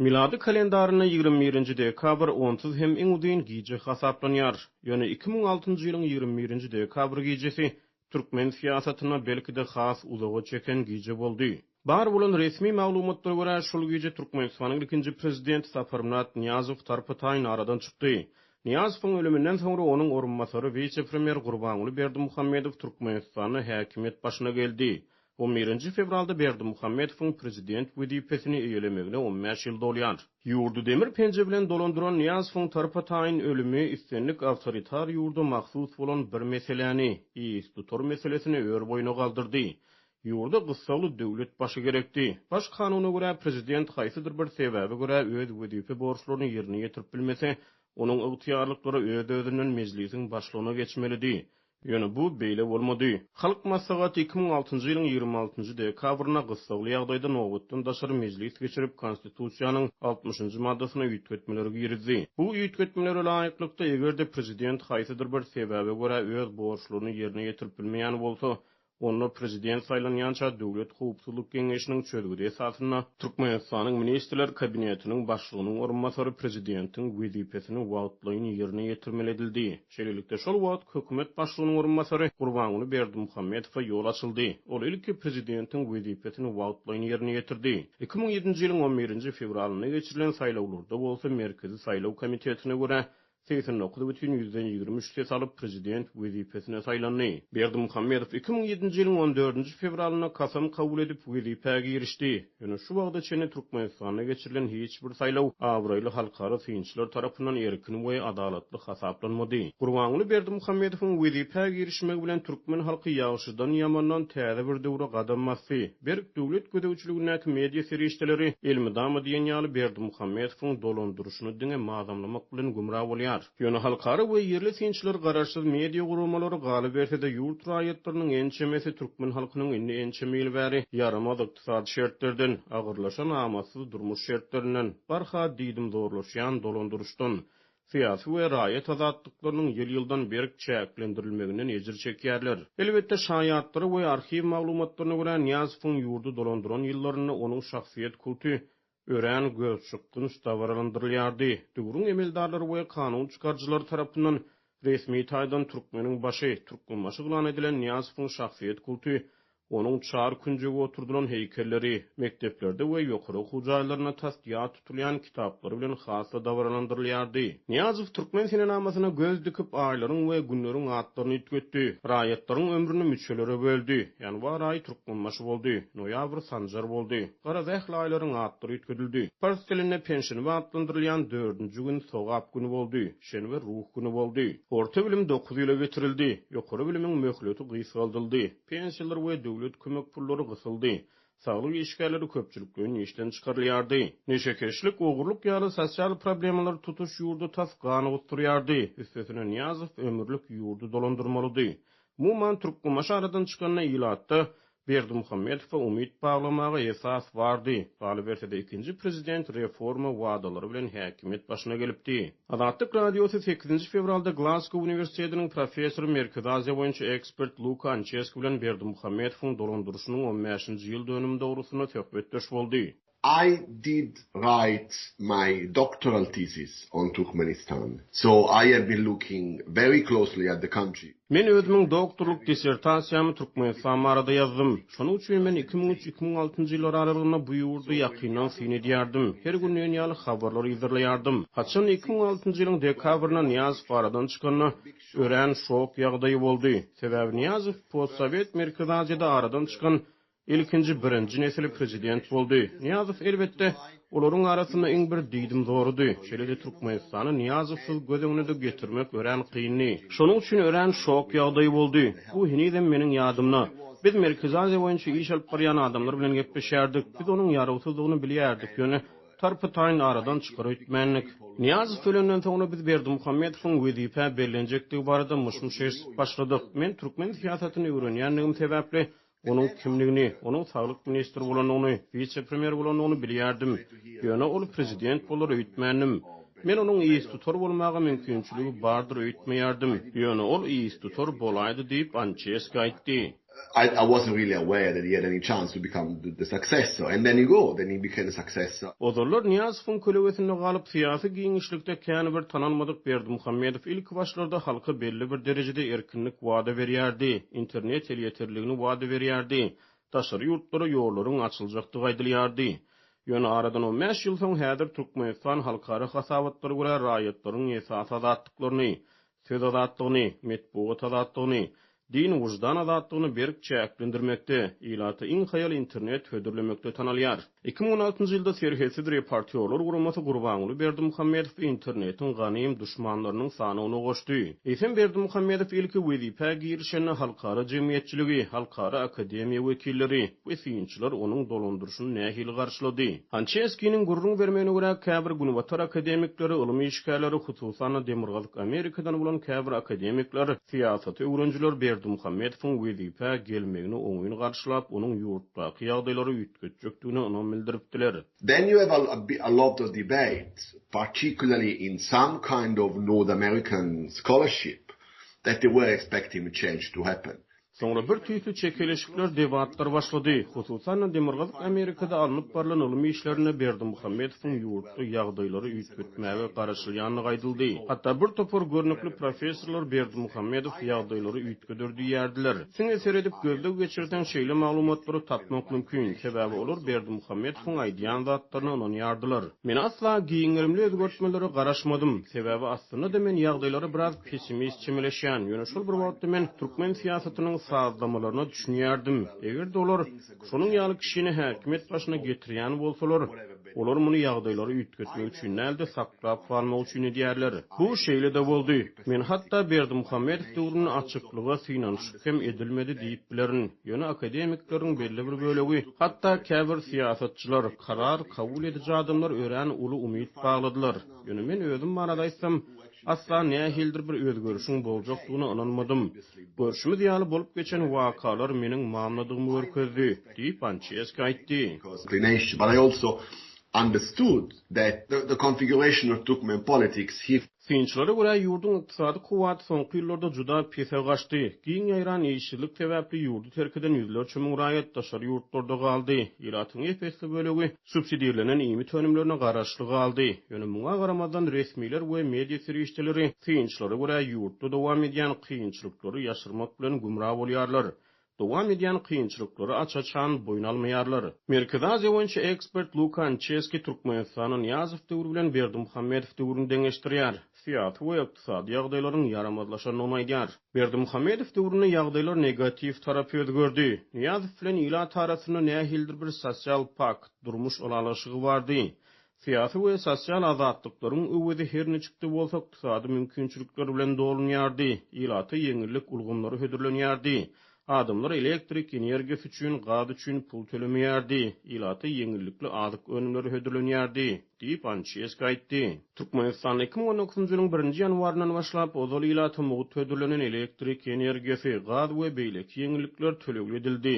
Milady kalendarynda ýigrimi birinji dekabr onsuz hem iň uzyn gije hasaplanýar. Ýöne iki müň altynjy ýylyň ýigrimi birinji dekabr gijesi türkmen syýasatynda belki-de has uzaga çeken gije boldy. Bar bolan resmi maglumatlara görä, şol gije Türkmenistanyň ilkinji prezidenti Saparmyrat Nyýazow tarpa-taýyn aradan çykdy. Nyýazowyň ölüminden soňra onuň orunbasary wise-premýer Gurbanguly Berdimuhamedow Türkmenistanda häkimiýet başyna geldi. On birinji fewralda Berdimuhamedowyň prezident wezipesini eýelemegine on bäş ýyl dolýar. Ýurdy demir penje bilen dolandyran Nyýazowyň tarpataýyn ölümi islendik awtoritar ýurda mahsus bolan bir meseläni, ýs dutar meselesini ör boýuna galdyrdy. Ýurda gyssagly döwlet başy gerekdi. Baş kanuna görä, prezident haýsydyr bir sebäbe görä öz wezipe borçlaryny ýerine ýetirip bilmese, onuň ygtyýarlyklary öz-özünden mejlisiň başlygyna geçmelidi. Ýöne bu beýle bolmady. Halk Maslahaty iki müň altynjy ýylyň ýigrimi altynjy dekabrynda gyssagly ýagdaýda nobatdan daşary mejlis geçirip, Konstitusiýanyň altmyşynjy maddasyna üýtgetmeler girizdi. Bu üýtgetmelere laýyklykda, eger-de prezident haýsydyr bir sebäbe görä öz borçlaryny ýerine ýetirip bilmeýän bolsa, Onda prezident saýlanýança Döwlet howpsuzlyk geňeşiniň çözgüdi esasynda Türkmenistanyň Ministrler Kabinetiniň Başlygynyň orunbasary prezidentiň wezipesini wagtlaýyn ýerine ýetirmeli edildi. Şeýlelikde, şol wagt Hökümet başlygynyň orunbasary Gurbanguly Berdimuhamedowa ýol açyldy. Ol ilki prezidentiň wezipesini wagtlaýyn ýerine ýetirdi. Iki müň ýedinji ýylyň on birinji fewralynda geçirilen saýlawlarda bolsa Merkezi saýlaw komitetine görä segsen dokuz bütin ýüzden ýigrimi üç ses alyp, prezident wezipesine saýlandy. Berdimuhamedow iki müň ýedinji ýylyň on dördünji fewralynda kasam kabul edip, wezipä girişdi. Ýöne şu wagta çenli Türkmenistanda geçirilen hiç bir saýlaw abraýly halkara synçylar tarapyndan erkin we adalatly hasaplanmady. Gurbanguly Berdimuhamedowyň wezipä girişmegi bilen türkmen halky ýagşydan-ýamandan täze bir döwre gadam basdy. Berk döwlet gözegçiligindäki media serişdeleri elmydama diýen ýaly Berdimuhamedowyň dolandyryşyny diňe mazamlamak bilen gümra bolýar. Ýöne halkara we ýerli synçylar garaşsyz media guramalary galyberse-de ýurt raýatlarynyň ençemesi türkmen halkynyň indi ençeme ýyl bäri ýaramaz ykdysady şertlerden, agyrlaşan amatsyz durmuş şertlerinden, barha diýdimzorlaşýan dolandyryşdan, Syýasy we raýat azatlyklarynyň ýyl-ýyldan berk çäklendirilmeginden ejir çekýärler. Elbetde, şaýatlara we arhiw maglumatlaryna görä, Nyýazowyň ýurdy dolandyran ýyllarynda onuň şahsyýet kulty örän gözçykgynç dabaralandyrylýardy. Döwrüň emeldarlary we kanun çykaryjylary tarapyndan resmi taýdan Türkmeniň başy, Türkmenbaşy yglan edilen Nyýazowyň şahsyýet kulty Onuň çar künjege oturdylan heýkelleri, mekdeplerde we ýokary okuw jaýlarynda tas ýat tutulýan kitaplary bilen has-da dabaralandyrylýardy. Nyýazow türkmen senenamasyna göz dikip, aýlaryň we günleriň atlaryny üýtgetdi, raýatlaryň ömrüni müçelere böldi, ýanwar aýy Türkmenbaşy boldy, noýabr Sanjar boldy. Garaz, ähli aýlaryň atlary üýtgedildi. Pars dilinde penşenbe atlandyrylýan dördünji gün Sogap güni boldy, şenbe Ruh güni boldy. Orta bilim dokuz ýyla getirildi, ýokary bilimiň möhleti gysgaldyldy, Pensiýalar we döwlet kömek pullary gysyldy. Saglyk işgärleri köpçülikleýin işden çykarylýardy. Neşekeşlik, ogurlyk ýaly sosial problemalar tutuş ýurdy tas gana gusdurýardy. Üstesine Nyýazow ömürlik ýurdy dolandyrmalydy. Umuman, Türkmenbaşy aradan çykanda ilatda Berdimuhamedowa umyt baglamaga esas bardy. Galyberse-de ikinji prezident reforma wadalary bilen häkimiýet başyna gelipdi. Azatlyk Radiosy sekizinji fewralda Glazgo uniwersitetiniň professory, Merkezi Aziýa boýunça ekspert Luka Ançeski bilen Berdimuhamedowyň dolandyryşynyň on bäşinji ýyl dönümi dogrusynda söhbetdeş boldy. I did write my doctoral thesis on Turkmenistan, so I have been looking very closely at the country. Men özümiň doktorlyk dissertasiýamy Türkmenistan barada ýazdym. Şonuň üçin men iki müň üç, iki müň altynjy ýyllar aralygynda bu ýurdy ýakyndan syn edýärdim. Her günleýin ýaly habarlar yzarlaýardym. Haçan iki müň altynjy ýylyň dekabrynda Nyýazow aradan çykanda, örän şok ýagdaýy boldy. Sebäbi Nyýazow postsowet Merkezi Aziýada aradan çykan Ilkinji birinji nesil prezident boldy. Nyýazow elbetde, olaryň arasynda iň bir diýdimzorydy. Şeýle-de Türkmenistany Nyýazowsyz göz öňüne-de getirmek örän kyndy. Şonuň üçin örän şok ýagdaýy boldy. Bu henizem meniň ýadymda. Biz Merkezi Aziýa boýunça iş alyp barýan adamlar bilen gepleşýärdik. Biz onuň ýarawsyzdygyny bilýärdik, ýöne tarpy-taýyn aradan çykyr öýtmändik. Nyýazow ölenden soňra biz Berdimuhamedowyň wezipä bellenjekdigi barada myş-myş eşidip başladyk. Men türkmen syýasatyny öwrenýändigim sebäpli Onuň kimdigini, onuň saglyk ministri bolandygyny, wise-premýer bolandygyny bilýärdim. Ýöne ol prezident bolar öýtmändim. Men onuň yztutar bolmaga mümkinçiligi bardyr öýtmeýärdim. Ýöne ol yztutar bolaýdy diýip, Ançeski aýtdy. Ozallar Nyýazowyň kölewesinde galyp, syýasy giňişlikde kän bir tanalmadyk Berdimuhamedow ilki başlarda halka belli bir derejede Erkinlik wada berýärdi, internet elýeterligini wada berýärdi, daşary ýurtlara ýollaryň açyljakdygy aýdylýardy. Ýöne aradan on bäş ýyl soň häzir Türkmenistan halkara hasabatlara görä raýatlaryň esasy azatlyklaryny, söz azatlygyny, metbugat azatlygyny, din, wyždan azatlygyny berk çäklendirmekde, ilata iň haýal internet hödürlemekde tanalýar. Iki müň on altynjy ýylda Serhetsiz reportýorlar guramasy Gurbanguly Berdimuhamedowy internetiň ganym duşmanlarynyň sanawyna goşdy. Eýsem Berdimuhamedow ilki wezipä girişende halkara jemgyýetçiligi, halkara akademiýa wekilleri we synçylar onuň dolandyryşyny nähili garşylady? Hançerskiniň gürrüň bermegine görä, käbir Günbatar akademikleri, ylym işgärleri, hususan-da Demirgazyk Amerikadan bolan käbir akademikler, syýasat öwrenijiler Berdimuhamedowyň wezipä gelmegini oňyn garşylap, onuň ýurtdaky ýagdaýlary ötjekdigine ynam bildiripdiler. Daniel Alobda debate, particularly in some kind of North American scholarship, that they were expecting a change to happen. Soňra bir tüýsli çekeleşikler, debatlar başlady. Hususan-da, Demirgazyk Amerikada alnyp barlan ylmy işlerinde Berdimuhamedowyň ýurtda ýagdaýlary üýtgetmäge garaşylýandygy aýdyldy. Hatda bir topar görnükli professorlar Berdimuhamedow ýagdaýlary üýtgeder diýýärdiler. Siňe seredip gözleg geçirseň şeýle maglumatlary tapmak mümkin, sebäbi olar Berdimuhamedowyň aýdýan zatlaryna ynanýardylar. Men asla giňerimli özgertmelere garaşmadym, sebäbi aslynda-da men ýagdaýlara biraz pessimist çemeleşýän, ýöne şol bir wagtda men türkmen syýasatynyň sazlamalaryna düşünýärdim, eger-de olar, Şonuň ýaly kişini häkimiýet başyna getirýän bolsalar, olar muny ýagdaýlary üýtgetmek üçin däl-de, saklap galmak üçin edýärler. Bu şeýle-de boldy. Men hatda Berdimuhamedow döwründe açyklyga synanyşyk hem edilmedi diýip bilerin. Ýöne akademikleriň belli bir bölegi, hatda käbir syýasatçylar, karar kabul ediji adamlar örän uly umyt bagladylar. Ýöne men özüm barada aýtsam, Asla nähilidir bir özgerişiň boljakdygyna ynanmadym. Görşümiz ýaly, bolup geçen wakalar meniň mamladygymy görkezdi, diýip, Ançeski aýtdy. Synçylara görä, ýurduň ykdysady kuwwaty soňky ýyllarda juda pese gaçdy. Giň ýaýran işsizlik sebäpli ýurdy terk eden ýüzlerçe müň raýat daşary ýurtlarda galdy. Ilatyň ep-esli bölegi subsidirlenen iýmit önümlerine garaşly galdy. Ýöne muňa garamazdan, resmiler we media serişdeleri synçylara görä, ýurtda dowam edýän kynçylyklary ýaşyrmak bilen gümra bolýarlar. Dowam edýän kynçylyklary aç-açan boýun almaýarlar. Merkezi Aziýa boýunça ekspert Luka Ançeski Türkmenistany Nyýazow döwri bilen Berdimuhamedow döwrüni deňeşdirýär. Syýasy we ykdysady ýagdaýlaryň ýaramazlaşandygyny aýdýar. Berdimuhamedow döwründe ýagdaýlar negatiw tarap özgerdi. Nyýazow bilen ilat arasynda nähilidir bir sosial pakt, durmuş ylalaşygy bardy. Syýasy we sosial azatlyklaryň öwezi her niçik-de bolsa ykdysady mümkinçilikler bilen dolunýardy, ilata ýeňillik ulgamlary hödürlenýärdi, Adamlar elektrik energiýasy üçin, gaz üçin pul tölemeýärdi, ilata ýeňillikli azyk önümleri hödürlenýärdi, diýip, Ançeski aýtdy. Türkmenistanda iki müň on dokuzynjy ýylyň birinji ýanwaryndan başlap, ozal ilata mugt hödürlenen elektrik energiýasy, gaz we beýleki ýeňillikler tölegli edildi.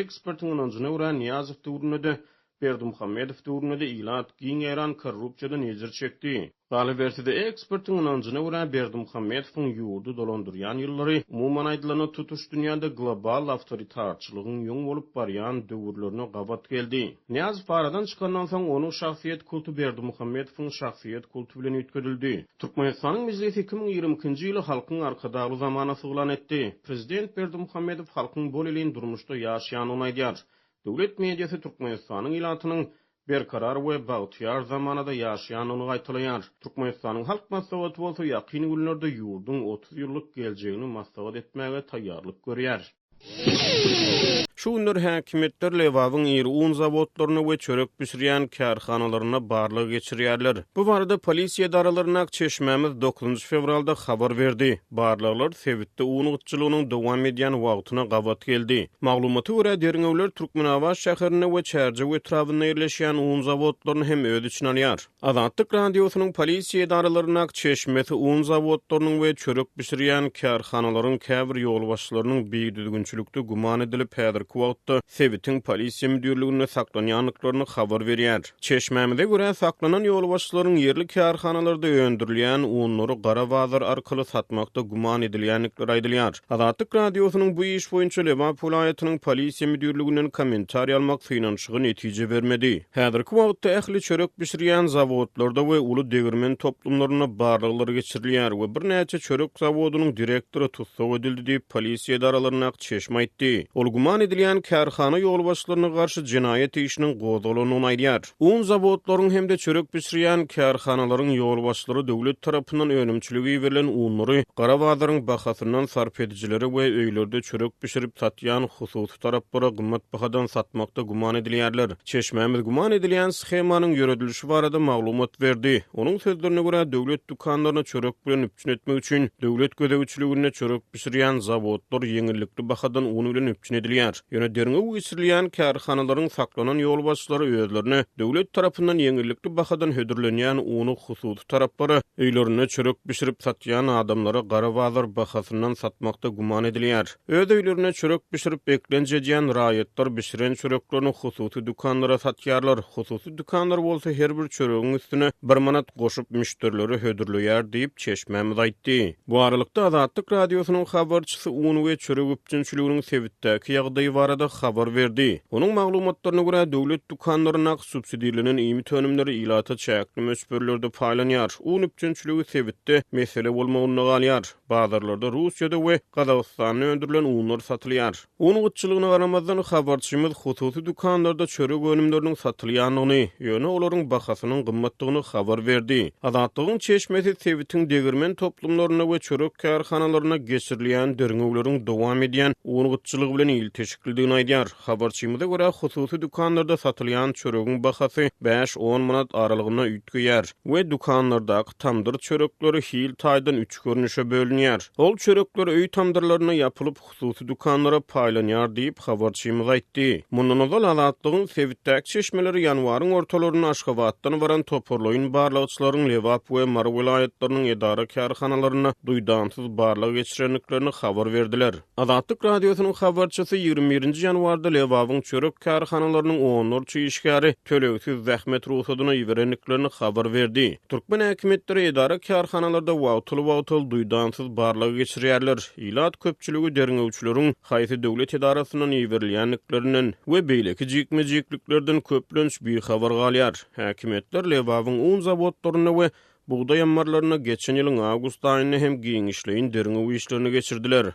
Ekspertiň ynanjyna görä, Nyýazow döwründe-de Berdimuhamedow döwründe-de ilat giň ýaýran korrupsiýadan ejir çekdi. Galyberse-de, ekspertiň ynanjyna görä, Berdimuhamedowyň ýurdy dolandyrýan ýyllary, umuman aýdylanda, tutuş dünýäde global awtoritarçylygyň ýoň bolup barýan döwürlerine gabat geldi. Nyýazow aradan çykandan soň, onuň şahsyýet kulty Berdimuhamedowyň şahsyýet kulty bilen üýtgedildi. Türkmenistanyň Mejlisi iki müň ýigrimi ikinji ýyly Halkyň Arkadagly zamanasy yglan etdi. Prezident Berdimuhamedow halkyň bolelin durmuşda ýaşaýandygyny aýdýar. Döwlet mediasy Türkmenistanyň ilatynyň berkarar we bagtyýar zamanada ýaşaýandygyny gaýtalaýar. Türkmenistanyň Halk Maslahaty bolsa ýakyn günlerde ýurduň otuz ýyllyk geljegini maslahat etmäge taýýarlyk görýär. Şu günler häkimiýetler Lebabyň iri un zawodlaryna we çörek bişirýän kärhanalaryna barlag geçirýärler. Bu barada polisiýa edaralaryna ak çeşmämiz dokuzynjy fewralda habar berdi. Barlaglar sebitde un gytçylygynyň dowam edýän wagtyna gabat geldi. Maglumata görä, derňewler Türkmenabat şäherinde we Çärjew etrabynda ýerleşýän un zawodlaryny hem öz içine alýar. Azatlyk Radiosynyň polisiýa edaralaryndaky çeşmesi un zawodlarynyň we çörek bişirýän kärhanalaryň käbir ýolbaşçylarynyň bidüzgünçilikde güman edilip, häzirki wagtda sebitiň polisiýa müdirliginde saklanýandyklaryny habar berýär. Çeşmämize görä, saklanan ýolbaşçylaryň ýerli kärhanalarda öndürilýän unlary gara bazar arkaly satmakda güman edilýändikleri aýdylýar. Azatlyk Radiosynyň bu iş boýunça Lebap welaýatynyň Polisiýa müdirliginden kommentariýa almak synanyşygy netije bermedi. Häzirki wagtda ähli çörek bişirýän zawodlarda we uly degirmen toplumlarynda barlaglar geçirilýär we birnäçe çörek zawodynyň direktory tussag edildi diýip, polisiýa edaralaryndaky çeşme aýtdy. Ol güman edilýän kärhana ýolbaşçylaryna garşy jenaýat işiniň gozgalandygyny aýdýar. Un zawodlaryň hem-de çörek bişirýän kärhanalaryň ýolbaşçylary döwlet tarapyndan önümçilige iberilen unlary gara bazaryň bahasyndan sarp edijilere we öýlerde çörek bişirip satýan hususy taraplara gymmat bahadan satmakda güman edilýärler. Çeşmämiz güman edilýän shemanyň ýöredilişi barada maglumat berdi. Onuň sözlerine görä, döwlet dükanlaryny çörek bilen üpjün etmek üçin döwlet gözegçiliginde çörek bişirýän zawodlar ýeňillikli bahadan un bilen üpjün edilýär. Ýöne derňew geçirilýän kärhanalaryň saklanan ýolbaşçylary özlerine döwlet tarapyndan ýeňillikli bahadan hödürlenýän uny hususy taraplara, öýlerinde çörek bişirip satýan adamlara gara bazar bahasyndan satmakda güman edilýär. Öz öýlerinde çörek bişirip beklenç edýän raýatlar bişiren çöreklerini hususy dükanlara satýarlar, hususy dükanlar bolsa her bir çöregiň üstüne bir manat goşup müşderilere hödürleýär diýip, çeşmämiz aýtdy. Bu aralykda, Azatlyk Radiosynyň habarçysy un we çörek üpjünçiliginiň sebitdäki ýagdaýy barada habar berdi. Onuň maglumatlaryna görä, döwlet dükanlaryndaky subsidirlenen iýmit önümleri ilata çäkli möçberlerde paýlanýar. Un üpjünçiligi sebitde mesele bolmagynda galýar. Bazarlarda Russiýada we Gazagystanda öndürilen unlar satylýar. Un gytçylygyna garamazdan, habarçymyz hususy dükanlarda çörek önümleriniň satylýandygyny, ýöne olaryň bahasynyň gymmatdygyny habar berdi. Azatlygyň çeşmesi sebitiň degirmen toplumlarynda we çörek kärhanalarynda geçirilýän derňewleriň dowam edýän un gytçylygy bilen ilteşiklidigini aýdýar. Habarçymyza görä, hususy dükanlarda satylýan çöregiň bahasy bäş-on manat aralygynda üýtgeýär we dükanlardaky tamdyr çörekleri hil taýdan üç görnüşe bölünýär. Ol çörekler öý tamdyrlarynda ýapylyp, hususy dükanlara paýlanýar diýip, habarçymyz aýtdy. Mundan ozal, Azatlygyň sebitdäki çeşmeleri ýanwaryň ortalarynda Aşgabatdan baran toparlaýyn barlagçylaryň Lebap we Mary welaýatlarynyň edara-kärhanalarynda duýdansyz barlag geçirendiklerini habar berdiler. Azatlyk Radiosynyň habarçysy ýigrimi birinji ýanwarda Lebabyň çörek kärhanalarynyň onlarça işgäri tölegsiz zähmet rugsadyny iberendiklerini habar berdi. Türkmen häkimiýetleri edara-kärhanalarda wagtal-wagtal duýdansyz barlag geçirýärler. Ilat köpçüligi derňewçileriň haýsy döwlet edarasyndan iberilýändiklerinden we beýleki jikme-jikliklerden köplenç bihabar galýar. Häkimiýetler Lebabyň un zawodlarynda we bugdaý ammarlarynda geçen ýylyň awgust aýynda hem giňişleýin derňew işlerini geçirdiler.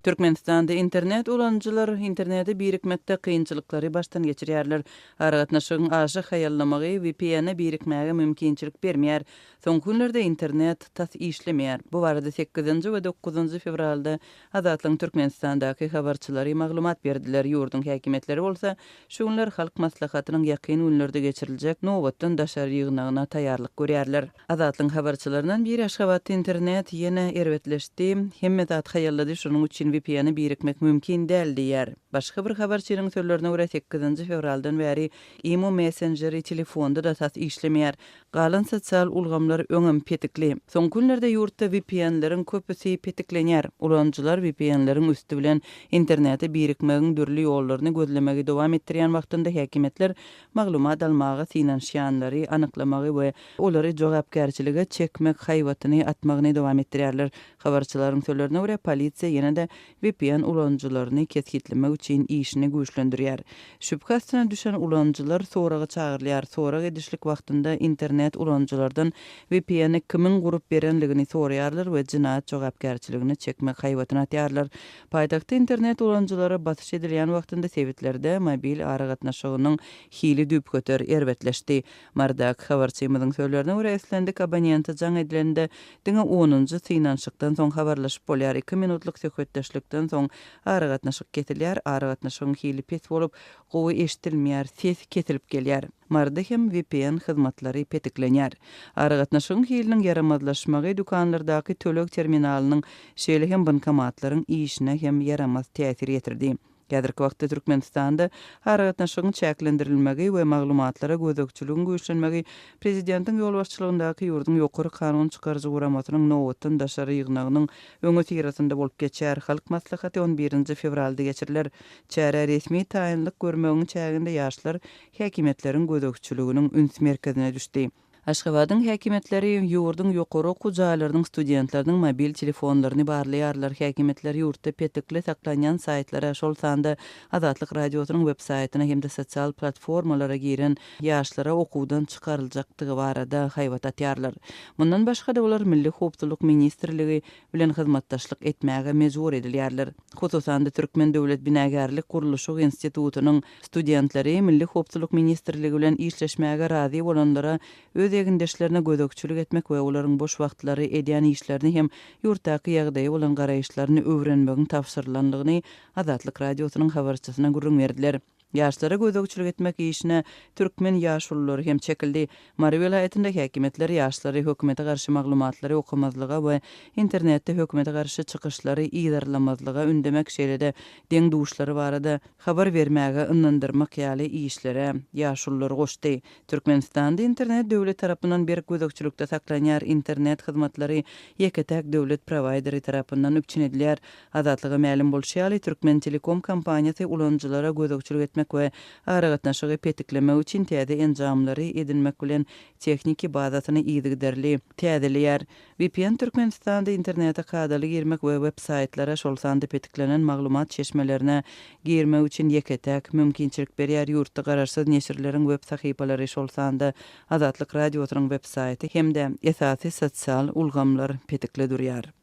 Türkmenistanda internet ulanyjylar internete birikmekde kynçylyklary başdan geçirýärler. Aragatnaşygyň aşa haýallamagy VPN-e birikmäge mümkinçilik bermeýär. Soňky günlerde internet tas işlemeýär. Bu barada sekizinji we dokuzynjy fewralda Azatlygyň Türkmenistandaky habarçylary maglumat berdiler, ýurduň häkimiýetleri bolsa şu günler Halk Maslahatynyň ýakyn günlerde geçiriljek nobatdan daşary ýygnagyna taýýarlyk görýärler. Azatlygyň habarçylaryndan biri Aşgabatda internet ýene erbetleşdi, hemme zat haýallady, şonuň üçin vpn-e birikmek mümkin däl diýýär. Başga bir habarçynyň sözlerine görä, sekizinji fewraldan bäri Imo messenjeri telefonda-da tas işlemeýär. Galan sosial ulgamlar öňem petikli. Soňky günlerde ýurtda VPN-leriň köpüsi petiklenýär. Ulanyjylar VPN-leriň üsti bilen internete birikmegiň dürli ýollaryny gözlemegi dowam etdirýän wagtynda häkimiýetler maglumat almaga synanyşýanlary anyklamagy we olary jogapkärçilige çekmek haýbatyny atmagyny dowam etdirýärler. Habarçylaryň sözlerine görä, polisiýa ýene-de vpn ulanyjylaryny kesgitlemek üçin işini güýçlendirýär. Şübhe astyna düşen ulanyjylar soraga çagyrylýar, sorag edişlik wagtynda internet ulanyjylardan vpn-i kimiň gurup berenligini soraýarlar we jenaýat jogapkärçiligine çekmek haýbatyny atýarlar. Paýtagtda internet ulanyjylara basyş edilýän wagtynda sebitlerde mobil aragatnaşygynyň hili düýpgöter erbetleşdi. Mardak habarçymyzyň sözlerine görä, islendik abonente jaň edilende, diňe onunjy synanyşykdan soň habarlaşyp bolýar, iki minutlyk söhbetdeşlikden soň aragatnaşyk kesilýär, aragatnaşygyň hili pes bolup, gowy eşidilmeýär, ses kesilip gelýär. Marda hem vpn hyzmatlary petiklenýär. Aragatnaşygyň hiliniň ýaramazlaşmagy dükanlardaky töleg terminalynyň, şeýle hem bankomatlaryň işine hem ýaramaz täsir ýetirdi. Häzirki wagtda Türkmenistanda aragatnaşygyň çäklendirilmegi we maglumatlara gözegçiligiň güýçlenmegi Prezidentiň ýolbaşçylygyndaky ýurduň ýokary kanun çykaryjy guramasynyň nobatdan daşary ýygnagynyň öňüsyrasynda bolup geçer. Halk Maslahaty on birinji fewralda geçiriler. Çärä resmi taýynlyk görmegiň çäginde ýaşlar häkimiýetleriň gözegçiliginiň üns merkezine düşdi. Aşgabadyň häkimiýetleri ýurduň ýokary okuw jaýlarynyň studentleriniň mobil telefonlaryny barlaýarlar. Häkimiýetler ýurtda petikli saklanýan saýtlara, şol sanda Azatlyk Radiosynyň web saýtyna hem-de sosial platformalara giren ýaşlara okuwdan çykaryljakdygy barada haýbat atýarlar. Mundan başga-da olar Milli howpsuzlyk ministrligi bilen hyzmatdaşlyk etmäge mejbur edilýärler. Hususan-da, Türkmen döwlet binagärlik-gurluşyk institutynyň studentleri Milli howpsuzlyk ministrligi bilen işleşmäge razy bolanlara öz egindeşlerine gözegçilik etmek we olaryň boş wagtlary edýän işlerini hem ýurtdaky ýagdaýa bolan garaýyşlaryny öwrenmegiň tabşyrylandygyny Azatlyk Radiosynyň habarçysyna gürrüň berdiler. Ýaşlara gözegçilik etmek işine türkmen ýaşululary hem çekildi. Mary welaýatynda häkimiýetler ýaşlary hökümete garşy maglumatlary okamazlyga we internetde hökümete garşy çykyşlary yzarlamazlyga ündemek şeýle-de deň-duşlary barada habar bermäge yndandyrmak ýaly işlere ýaşululary goşdy. Türkmenistanda internet döwlet tarapyndan berk gözegçilikde saklanýar, internet hyzmatlary ýeke-täk döwlet prowaýderi tarapyndan üpjün edilýär. Azatlyga mälim bolşy ýaly, Türkmentelekom kompaniýasy ulanyjylara gözegçilik etmek we aragatnaşygy petiklemek üçin täze enjamlary edinmek bilen, tehniki bazasyny yzygiderli täzeleýär. Vpn Türkmenistanda internete kadaly girmek we web saýtlara, şol sanda petiklenen maglumat çeşmelerine girmek üçin ýeke-täk mümkinçilik berýär, ýurtda garaşsyz neşirleriň web sahypalary, şol sanda Azatlyk Radiosynyň web saýty hem-de esasy sosial ulgamlar petikli durýar.